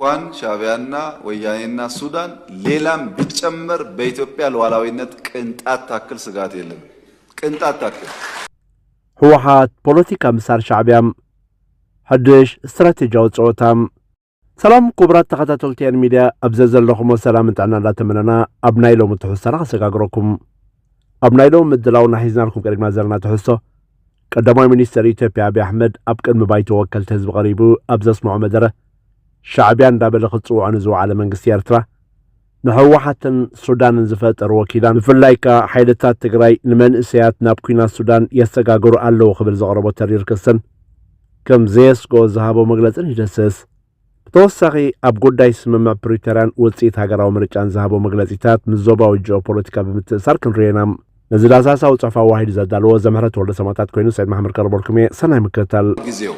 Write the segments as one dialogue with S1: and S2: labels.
S1: እንኳን
S2: ሻዕቢያና ወያኔና ሱዳን ሌላም ቢጨመር በኢትዮጵያ ሉዓላዊነት ቅንጣት ታክል ስጋት የለን ቅንጣት ታክል።
S1: ህወሓት ፖለቲካ ምሳር ሻዕቢያ ሓድሽ ስትራቴጂያዊ ፀወታ። ሰላም ክቡራት ተኸታተልቲ ኤን ሚድያ ኣብ ዘዘለኹሞ ሰላምን ጥዕናን እንዳተመነና ኣብ ናይ ሎሚ ትሕዝቶና ከሰጋግረኩም። ኣብ ናይ ሎሚ ምድላውና ሒዝናልኩም ቀሪብና ዘለና ትሕዝቶ፣ ቀዳማይ ሚኒስተር ኢትዮጵያ ኣቢይ ኣሕመድ ኣብ ቅድሚ ባይቶ ወከልቲ ህዝቢ ቀሪቡ ኣብ ዘስምዖ መደረ፣ ሻዕቢያ እንዳበለ ክጽውዖ ንዝወዓለ መንግስቲ ኤርትራ፣ ንህወሓትን ሱዳንን ዝፈጠርዎ ኪዳን፣ ብፍላይካ ሓይልታት ትግራይ ንመንእሰያት ናብ ኲናት ሱዳን የሰጋግሩ ኣለዉ ክብል ዘቕረቦ ተሪር ክስን ከም ዘየስግኦ ዝሃቦ መግለጽን ይድህስስ። ብተወሳኺ ኣብ ጉዳይ ስምምዕ ፕሪቶርያን ውፅኢት ሃገራዊ ምርጫን ዝሃቦ መግለፂታት ምስ ዞባዊ ጂኦ ፖለቲካ ብምትእስሳር ክንሪኦ ኢና። ነዚ ዳሳሳዊ ፅሑፍ ኣዋሂዱ ዘዳለዎ ዘምህረት ወልደሰማእታት ኮይኑ ሰይድ መሓመድ ቀርበልኩም እየ። ሰናይ ምክትታል። ጊዜው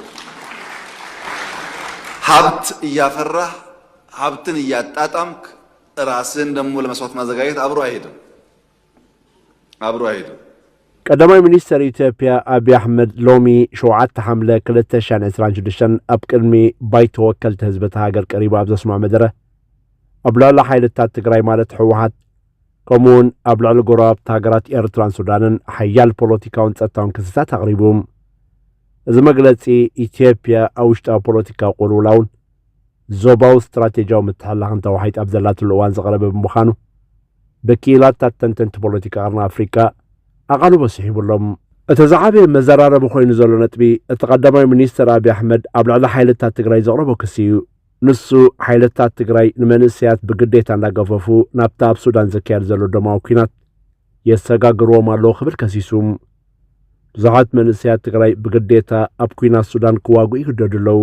S2: ሀብት እያፈራህ ሀብትን እያጣጣምክ እራስህን ደግሞ ለመስዋት ማዘጋጀት አብሮ አይሄድም ኣብሩ ኣይሄድን።
S1: ቀዳማይ ሚኒስተር ኢትዮጵያ ኣብዪ ኣሕመድ ሎሚ ሸውዓተ ሓምለ ክልተ ሸሕን ዕስራን ሽዱሽተን ኣብ ቅድሚ ባይቶ ወከልቲ ህዝቢ እታ ሃገር ቀሪቡ ኣብ ዘስምዖ መደረ ኣብ ልዕሊ ሓይልታት ትግራይ ማለት ህወሓት ከምኡውን ኣብ ልዕሊ ጎረባብቲ ሃገራት ኤርትራን ሱዳንን ሓያል ፖለቲካውን ጸጥታውን ክስታት ኣቕሪቡ። እዚ መግለጺ ኢትዮጵያ ኣብ ውሽጣዊ ፖለቲካዊ ቁልውላውን ዞባዊ ስትራቴጂያዊ ምትሕልላኽን ተዋሒጣ ኣብ ዘላትሉ እዋን ዝቐረበ ብምዃኑ ብክኢላታት ተንተንቲ ፖለቲካ ቀርኒ ኣፍሪቃ ኣቓልቦ ስሒቡ ኣሎ። እቲ ዝዓበየ መዘራረቢ ኮይኑ ዘሎ ነጥቢ፣ እቲ ቀዳማይ ሚኒስተር ኣብይ ኣሕመድ ኣብ ልዕሊ ሓይልታት ትግራይ ዘቕረቦ ክሲ እዩ። ንሱ፣ ሓይልታት ትግራይ ንመንእሰያት ብግዴታ እንዳገፈፉ ናብቲ ኣብ ሱዳን ዝካየድ ዘሎ ደማዊ ኲናት የሰጋግርዎም ኣለዉ ክብል ከሲሱ። ብዙሓት መንእሰያት ትግራይ ብግዴታ ኣብ ኲናት ሱዳን ክዋግኡ ይግደዱ ኣለዉ።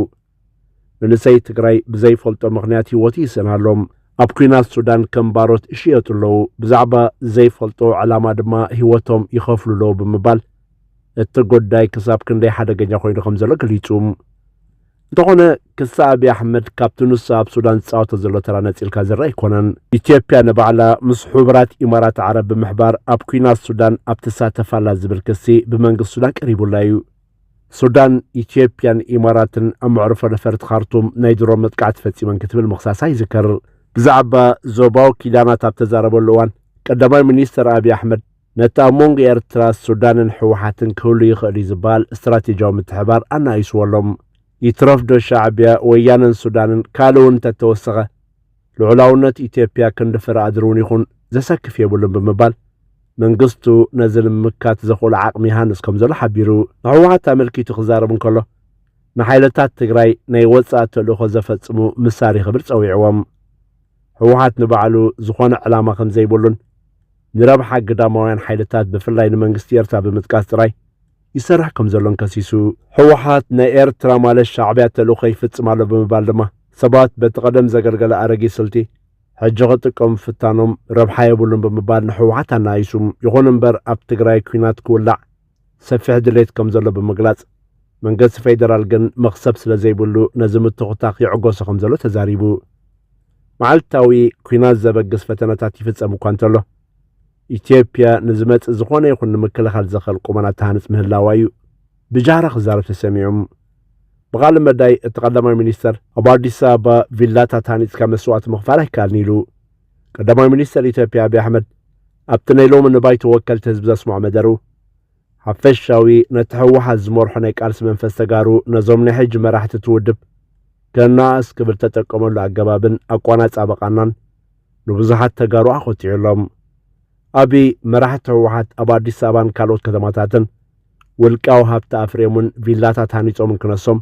S1: መንእሰይ ትግራይ ብዘይፈልጦ ምኽንያት ህይወቱ ይስእን ኣሎ። ኣብ ኩናት ሱዳን ከም ባሮት ይሽየጡ ኣለዉ፣ ብዛዕባ ዘይፈልጦ ዕላማ ድማ ህይወቶም ይኸፍሉ ኣለዉ ብምባል እቲ ጉዳይ ክሳብ ክንደይ ሓደገኛ ኮይኑ ከም ዘሎ ገሊጹ። እንተኾነ ክሲ ኣብዪ ኣሕመድ ካብቲ ንሱ ኣብ ሱዳን ዝጻወቶ ዘሎ ተራ ነጺልካ ዝርእ ኣይኮነን። ኢትዮጵያ ንባዕላ ምስ ሕቡራት ኢማራት ዓረብ ብምሕባር ኣብ ኩናት ሱዳን ኣብ ትሳተፍ ኣላ ዝብል ክሲ ብመንግስቲ ሱዳን ቀሪቡላ እዩ። ሱዳን፣ ኢትዮጵያን ኢማራትን ኣብ መዕርፎ ነፈርቲ ካርቱም ናይ ድሮን መጥቃዕቲ ፈጺመን ክትብል ምኽሳሳ ይዝከር። ብዛዕባ ዞባዊ ኪዳናት ኣብ ተዛረበሉ እዋን፣ ቀዳማይ ሚኒስተር ኣብዪ ኣሕመድ፣ ነቲ ኣብ መንጎ ኤርትራ፣ ሱዳንን ህወሓትን ክህሉ ይኽእል'ዩ ዝበሃል ስትራቴጂያዊ ምትሕብባር ኣናኢሱዎ ኣሎ። ይትረፍዶ ሻዕቢያ፣ ወያነን ሱዳንን ካልእ'ውን እንተተወሰኸ፣ ልዑላውነት ኢትዮጵያ ክንድፈር ኣድር'ውን ይኹን ዘሰክፍ የብሉን ብምባል፣ መንግስቱ ነዚ ንምምካት ዘኽእሎ ዓቕሚ ይሃንጽ ከምዘሎ ሓቢሩ። ንህወሓት ኣመልኪቱ ክዛረብ እንከሎ፣ ንሓይልታት ትግራይ ናይ ወጻኢ ተልእኾ ዘፈጽሙ ምሳሪ ክብል ጸዊዕዎም። ህወሓት ንባዕሉ ዝኾነ ዕላማ ከምዘይብሉን፣ ንረብሓ ግዳማውያን ሓይልታት ብፍላይ ንመንግስቲ ኤርትራ ብምጥቃስ ጥራይ፣ ይሰርሕ ከምዘሎን ከሲሱ። ህወሓት ናይ ኤርትራ ማለት ሻዕቢያ ተልእኾ ይፍጽም ኣሎ ብምባል ድማ ሰባት በቲ ቀደም ዘገልገለ ኣረጊት ስልቲ ሕጂ ክጥቀሙ ምፍታኖም ረብሓ የብሉን ብምባል ንህወሓት ኣነኣኢሱ። ይኹን እምበር ኣብ ትግራይ ኲናት ክውላዕ ሰፊሕ ድሌት ከምዘሎ ብምግላጽ መንገስቲ ፌደራል ግን መኽሰብ ስለዘይብሉ ነዚ ምትኹታኽ ይዕጎሶ ከምዘሎ ተዛሪቡ። መዓልታዊ ኲናት ዘበግስ ፈተነታት ይፍጸም እኳ እንተሎ፣ ኢትዮጵያ ንዝመጽእ ዝኾነ ይኹን ንምክልኻል ዘኸል ቁመና ተሃንጽ ምህላዋ እዩ ብጃህራ ክዛረብ ተሰሚዑ። ብቃለ መዳይ እቲ ቀዳማይ ሚኒስተር ኣብ ኣዲስ ኣበባ ቪላታት ሃኒጽካ መስዋእቲ ምኽፋል ኣይከኣልን ኢሉ። ቀዳማይ ሚኒስተር ኢትዮጵያ ኣብይ ኣሕመድ ኣብቲ ናይ ሎሚ ንባይቶ ወከልቲ ህዝቢ ዘስምዖ መደሩ ሓፈሻዊ ነቲ ህወሓት ዝመርሖ ናይ ቃልሲ መንፈስ ተጋሩ ነዞም ናይ ሕጂ መራሕቲ እቲ ውድብ ከነኣእስ ክብል ተጠቀመሉ ኣገባብን ኣቋናጻበቃናን ንብዙሓት ተጋሩ ኣኾቲዑ ኣሎ። ኣብይ መራሕቲ ህወሓት ኣብ ኣዲስ ኣበባን ካልኦት ከተማታትን ውልቃዊ ሃብቲ ኣፍርዮምን ቪላታት ሃኒጾምን ክነሶም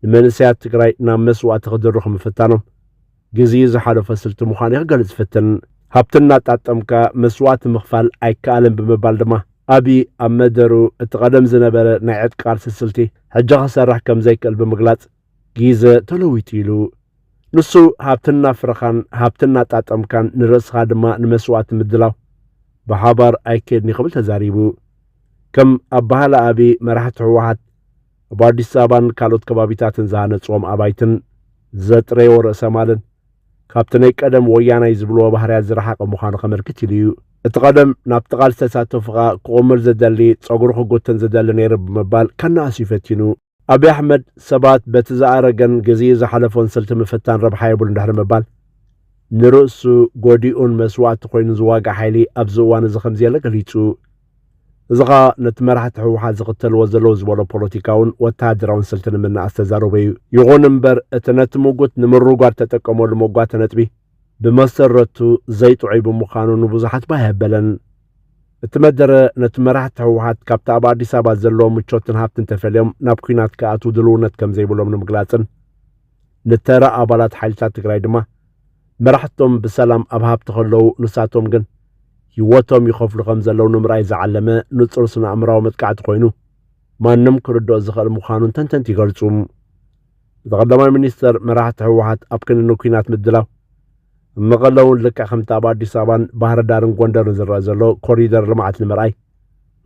S1: ንመንእሰያት ትግራይ ናብ መስዋእቲ ክድርኹ ምፍታኖም ግዜኡ ዝሓለፈ ስልቲ ምዃኑ እዩ ክገልጽ ዝፍትን። ሃብቲ እናጣጠምካ መስዋእቲ ምኽፋል ኣይከኣልን ብምባል ድማ ኣብይ ኣብ መደሩ እቲ ቀደም ዝነበረ ናይ ዕጥቂ ቃልሲ ስልቲ ሕጂ ክሰርሕ ከም ዘይክእል ብምግላጽ ጊዘ ተለዊጡ ኢሉ። ንሱ ሃብቲ እናፍረኻን ሃብቲ እናጣጠምካን ንርእስኻ ድማ ንመስዋእቲ ምድላው ብሓባር ኣይከድን'ዩ ክብል ተዛሪቡ። ከም ኣባህላ ኣብይ መራሕቲ ህወሓት ኣብ ኣዲስ ኣበባን ካልኦት ከባቢታትን ዝሃነጽዎም ኣባይትን ዘጥረይዎ ርእሰ ማልን ካብቲ ናይ ቀደም ወያናይ ዝብልዎ ባህርያት ዝረሓቐ ምዃኑ ከመልክት ኢሉ እዩ። እቲ ቀደም ናብቲ ቃልሲ ተሳተፉ ከኣ ክቑምል ዝደሊ ጸጉሩ ክጉትን ዝደሊ ነይሩ ብምባል ከነኣስ'ዩ ፈቲኑ። ኣብይ ኣሕመድ ሰባት በቲ ዝኣረገን ግዚኡ ዝሓለፎን ስልቲ ምፍታን ረብሓ የብሉን ድሕሪ ምባል፣ ንርእሱ ጎዲኡን መስዋእቲ ኮይኑ ዝዋጋእ ሓይሊ ኣብዚ እዋን እዚ ከምዘየለ ገሊጹ። እዚ ኸኣ ነቲ መራሕቲ ህወሓት ዝኽተልዎ ዘለዉ ዝበሎ ፖለቲካውን ወተሃደራውን ስልቲ ንምንእኣስ ተዛረቦ እዩ። ይኹን እምበር እቲ ነቲ ምጉት ንምርጓድ ተጠቀመሉ መጓተ ነጥቢ፣ ብመሰረቱ ዘይጥዑይ ብምዃኑ ንብዙሓት ባህ ኣየበለን። እቲ መደረ ነቲ መራሕቲ ህወሓት ካብቲ ኣብ ኣዲስ ኣበባ ዘለዎ ምቾትን ሃብትን ተፈልዮም ናብ ኲናት ክኣትዉ ድልውነት ከም ዘይብሎም ንምግላጽን ንተራ ኣባላት ሓይልታት ትግራይ ድማ መራሕቶም ብሰላም ኣብ ሃብቲ ከለዉ ንሳቶም ግን ህይወቶም ይኸፍሉ ከም ዘለዉ ንምርኣይ ዝዓለመ ንጹር ስነ ኣእምራዊ መጥቃዕቲ ኮይኑ ማንም ክርድኦ ዝኽእል ምዃኑን ተንተንቲ ይገልጹ። እቲ ቀዳማይ ሚኒስተር መራሕቲ ህወሓት ኣብ ክንዲ ንኲናት ምድላው ኣብ መቐለ እውን ልክዕ ከምቲ ኣብ ኣዲስ ኣበባን ባህር ዳርን ጎንደርን ዝረአ ዘሎ ኮሪደር ልምዓት ንምርኣይ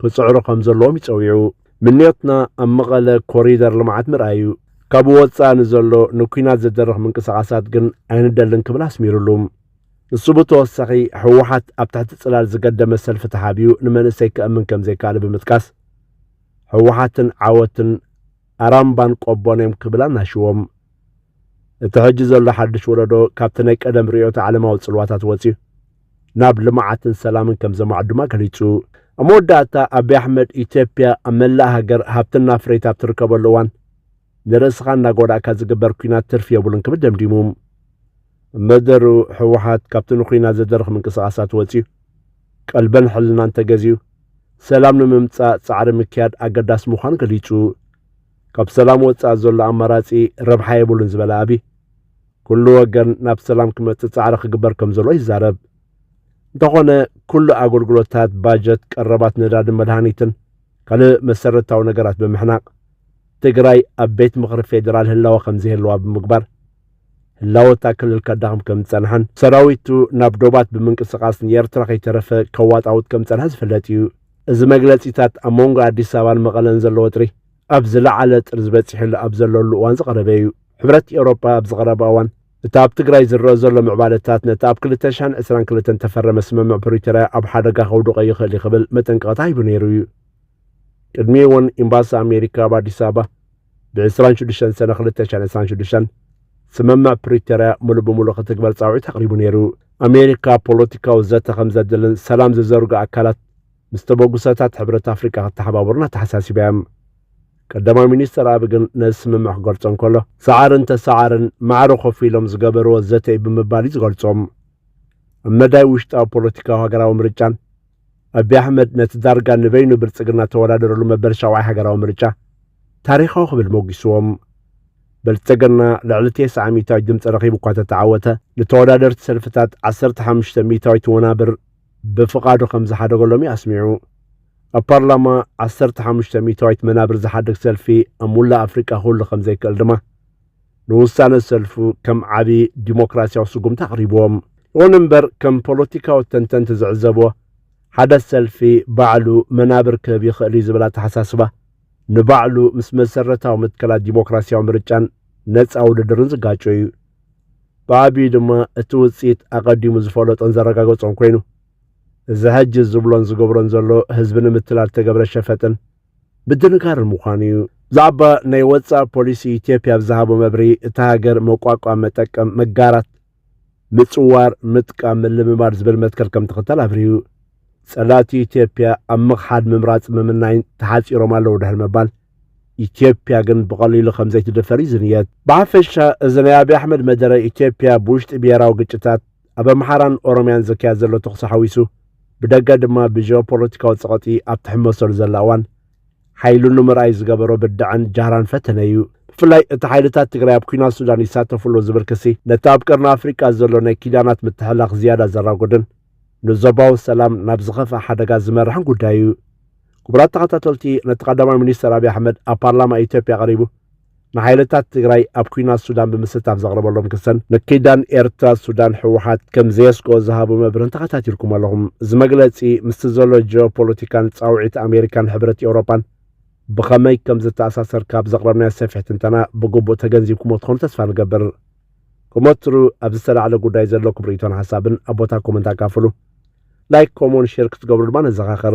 S1: ክፅዕሩ ከም ዘለዎም ይፀዊዑ። ምንዮትና ኣብ መቐለ ኮሪደር ልምዓት ምርኣይ እዩ። ካብኡ ወፃኢ ንዘሎ ንኲናት ዝድርኽ ምንቅስቓሳት ግን ኣይንደልን ክብል ኣስሚሩሉ። ንሱ ብተወሳኺ ህወሓት ኣብ ትሕቲ ፅላል ዝገደመ ሰልፊ ተሓቢኡ ንመንእሰይ ከእምን ከም ዘይከኣለ ብምጥቃስ ህወሓትን ዓወትን ኣራምባን ቆቦን እዮም ክብል ኣናሽዎም። እቲ ሕጂ ዘሎ ሓድሽ ወለዶ ካብቲ ናይ ቀደም ርእዮተ ዓለማዊ ጽልዋታት ወጺኡ ናብ ልምዓትን ሰላምን ከም ዘማዕ ድማ ገሊጹ። ኣብ መወዳእታ ኣቢ ኣሕመድ ኢትዮጵያ ኣብ መላእ ሃገር ሃብቲ እናፍረየት ኣብ ትርከበሉ እዋን ንርእስኻ እናጎዳእካ ዝግበር ኲናት ትርፊ የብሉን ክብል ደምዲሙ። እመደሩ ህወሓት ካብቲ ንኩናት ዘደርኽ ምንቅስቓሳት ወፂኡ ቀልበን ሕልናን ተገዚኡ ሰላም ንምምፃእ ፃዕሪ ምክያድ ኣገዳሲ ምዃኑ ገሊፁ። ካብ ሰላም ወፃኢ ዘሎ ኣማራፂ ረብሓ የብሉን ዝበለ ኣብይ፣ ኩሉ ወገን ናብ ሰላም ክመፅእ ፃዕሪ ክግበር ከምዘሎ ይዛረብ። እንተኾነ ኩሉ ኣገልግሎታት፣ ባጀት፣ ቀረባት ነዳድን መድሃኒትን ካልእ መሰረታዊ ነገራት ብምሕናቕ ትግራይ ኣብ ቤት ምኽሪ ፌዴራል ህላወ ከምዘይህልዋ ብምግባር ህላወታ ክልል ከዳኽም ከም ዝጸንሐን ሰራዊቱ ናብ ዶባት ብምንቅስቓስ ንኤርትራ ከይተረፈ ከዋጣውጥ ከም ዝጸንሐ ዝፍለጥ እዩ። እዚ መግለጺታት ኣብ መንጎ ኣዲስ ኣበባን መቐለን ዘሎ ወጥሪ ኣብ ዝለዓለ ጥርዚ በጺሕሉ ኣብ ዘለሉ እዋን ዝቐረበ እዩ። ሕብረት ኤውሮጳ ኣብዚ ቀረባ እዋን እቲ ኣብ ትግራይ ዝረኣ ዘሎ ምዕባለታት ነቲ ኣብ ክልተ ሽሕን ዕስራን ክልተን እተፈረመ ስምምዕ ፕሪቶርያ ኣብ ሓደጋ ከውድቖ ይኽእል እዩ ክብል መጠንቀቕታ ሂቡ ነይሩ እዩ። ቅድሚ እውን ኤምባሲ ኣሜሪካ ኣብ ኣዲስ ኣበባ ብዕስራን ሽዱሽተን ሰነ ክልተ ሽሕን ዕስራን ሽዱሽተን ስምምዕ ፕሪቶርያ ምሉእ ብምሉእ ክትግበር ጻውዒት ኣቕሪቡ ነይሩ። ኣሜሪካ ፖለቲካዊ ዘተ ከም ዘድልን ሰላም ዝዘርጉ ኣካላት ምስ ተበግሶታት ሕብረት ኣፍሪቃ ክተሓባበሩን ኣተሓሳሲባ እያ። ቀዳማይ ሚኒስትር ኣቢ ግን ነዚ ስምምዕ ክገልጾ እንከሎ ሰዓርን ተሰዓርን ማዕረ ኮፍ ኢሎም ዝገበርዎ ዘተ እዩ ብምባል እዩ ዝገልጾም። ኣብ መዳይ ውሽጣዊ ፖለቲካዊ ሃገራዊ ምርጫን ኣቢ ኣሕመድ ነቲ ዳርጋ ንበይኑ ብልጽግና እተወዳደረሉ መበል ሻውዓይ ሃገራዊ ምርጫ ታሪኻዊ ክብል ሞጒስዎም። ብልጽግና ልዕሊ ቴስዓ ሚእታዊት ድምጺ ረኺቡ እኳ እተተዓወተ፣ ንተወዳደርቲ ሰልፍታት ዓሰርተ ሓሙሽተ ሚእታዊት ወናብር ብፍቓዱ ከም ዝሓደገሎም እዩ ኣስሚዑ። ኣብ ፓርላማ ዓሰርተ ሓሙሽተ ሚእታዊት መናብር ዝሓድግ ሰልፊ ኣብ ሙላእ ኣፍሪቃ ክህሉ ከም ዘይክእል ድማ፣ ንውሳነ ሰልፉ ከም ዓቢ ዲሞክራሲያዊ ስጉምቲ ኣቕሪብዎ። ይኹን እምበር ከም ፖለቲካዊ ተንተንቲ ዝዕዘብዎ፣ ሓደ ሰልፊ ባዕሉ መናብር ክህብ ይኽእል እዩ ዝብል ኣተሓሳስባ፣ ንባዕሉ ምስ መሰረታዊ መትከላት ዲሞክራሲያዊ ምርጫን ነጻ ውድድርን ዝጋጮ እዩ። ብዓቢኡ ድማ እቲ ውጽኢት ኣቐዲሙ ዝፈለጦን ዘረጋገጾን ኮይኑ፣ እዚ ሕጂ ዝብሎን ዝገብሮን ዘሎ ህዝቢ ንምትላል እተገብረ ሸፈጥን፣ ምድንጋር ምዃኑ እዩ። ብዛዕባ ናይ ወፃኢ ፖሊሲ ኢትዮጵያ ኣብ ዝሃቦ መብርሂ እታ ሃገር መቋቋም፣ መጠቀም፣ መጋራት፣ ምፅዋር፣ ምጥቃም፣ ምልምማድ ዝብል መትከል ከምትኽተል ኣብሪሁ። ፀላእቲ ኢትዮጵያ ኣብ ምኽሓድ፣ ምምራፅ፣ ምምናይን ተሓፂሮም ኣለዉ ድሕሪ ምባል ኢትዮጵያ ግን ብቐሊሉ ከምዘይትድፈር ይዝንየት። ብሓፈሻ እዚ ናይ ኣብይ ኣሕመድ መደረ ኢትዮጵያ ብውሽጢ ብሄራዊ ግጭታት፣ ኣብ ኣምሓራን ኦሮምያን ዝካየድ ዘሎ ተኹሲ ሓዊሱ ብደገ ድማ ብጂኦፖለቲካዊ ጸቐጢ ኣብ ትሕመሰሉ ዘላ እዋን ሓይሉ ንምርኣይ ዝገበሮ ብድዐን ጃህራን ፈተነ እዩ ብፍላይ እቲ ሓይልታት ትግራይ ኣብ ኩናት ሱዳን ይሳተፍሎ ዝብል ክሲ ነቲ ኣብ ቀርኒ ኣፍሪቃ ዘሎ ናይ ኪዳናት ምትሕላኽ ዝያዳ ዘራጎድን ንዞባዊ ሰላም ናብ ዝኸፍኣ ሓደጋ ዝመርሕን ጉዳይ እዩ ክቡራት ተኸታተልቲ ነቲ ቀዳማይ ሚኒስተር ኣብዪ ኣሕመድ ኣብ ፓርላማ ኢትዮጵያ ቀሪቡ ንሓይልታት ትግራይ ኣብ ኩናት ሱዳን ብምስታፍ ዘቕረበሎም ክሰን ንኪዳን ኤርትራ ሱዳን ህወሓት ከም ዘየስግኦ ዝሃቦ መብርህን ተኸታቲልኩም ኣለኹም። እዚ መግለጺ ምስቲ ዘሎ ጂኦፖለቲካን ጻውዒት ኣሜሪካን ሕብረት ኤውሮጳን ብኸመይ ከም ዝተኣሳሰር ካብ ዘቕረብናዮ ሰፊሕ ትንተና ብግቡእ ተገንዚብኩሞ ትኾኑ ተስፋ ንገብር። ከም ወትሩ ኣብ ዝተላዕለ ጉዳይ ዘለኩም ርእይቶን ሓሳብን ኣብ ቦታ ኮመንት ኣካፍሉ። ላይክ፣ ኮሞን፣ ሼር ክትገብሩ ድማ ነዘኻኽር።